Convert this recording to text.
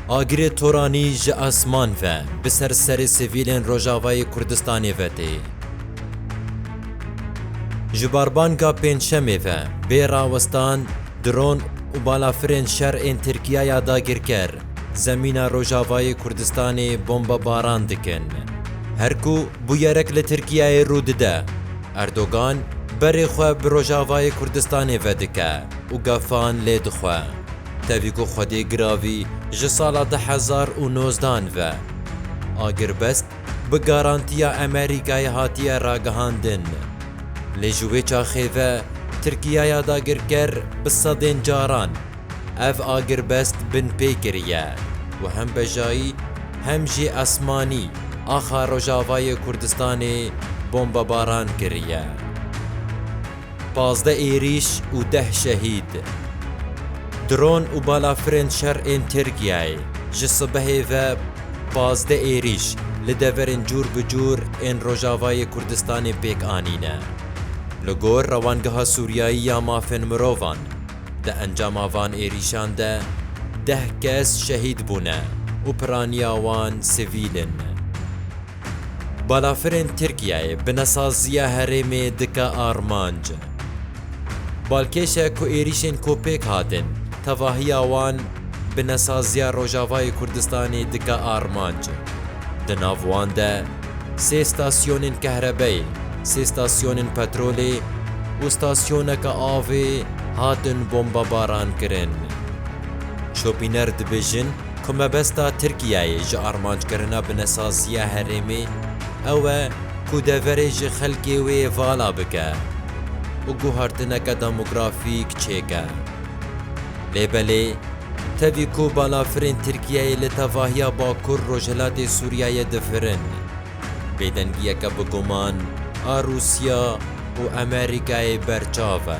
Agirê Toranî ji esman ve bi ser serê sivîlên Rojavayê Kurdistanê ve tê. Ji barbanga Pêncşemê ve bê rawestan dron û balafirên şer ên Tirkiye ya dagirker zemîna Rojavayê Kurdistanê bombebaran dikin. Her ku bûyerek li Tirkiyeyê rû dide, Erdogan berê xwe bi Rojavayê Kurdistanê ve dike û gefan lê dixwe. Tevî ku xwedê giravî ji sala du hezar û nozdan ve agirbest bi garantiya Emerîkayê hatiye ragihandin. Lê ji wê çaxê ve Tirkiyaya dagirker bi sedên caran ev agirbest binpê kiriye û hem bejayî hem jî esmanî axa Rojavayê Kurdistanê bombebaran kiriye. Pazdeh êrîş û deh şehîd. Dron û balafirên şer ên Tirkiyeyê ji sibehê ve pazdeh êrîş li deverên cûr bi cûr ên Rojavayê Kurdistanê pêk anîne. Li gor Rewangeha Sûriyayî ya Mafên Mirovan, di encama van êrîşan de deh kes şehîd bûne û piraniya wan sivîl in. Balafirên Tirkiyeyê bi nesaziya herêmê dike armanc. Balkêş e ku êrîşên ku pêk hatin, tevahiya wan bi nesaziya Rojavayê Kurdistanê dike armanc. Di nav wan de sê stasyonên kehrebeyê, sê stasyonên petrolê û stasyoneke avê hatin bombebarankirin. Şopîner dibêjin, Ku mebesta Tirkiyeyê ji armanckirina binesaziya herêmê ew e ku deverê ji xelkê wê vala bike û guhartineke demografîk çêke. Lê belê tevî ku balafirên Tirkiyeyê li tevahiya bakur rojhilatê Sûriyeyê difirin, bêdengiyeke bi guman a Rûsya û Amerîkayê berçav e.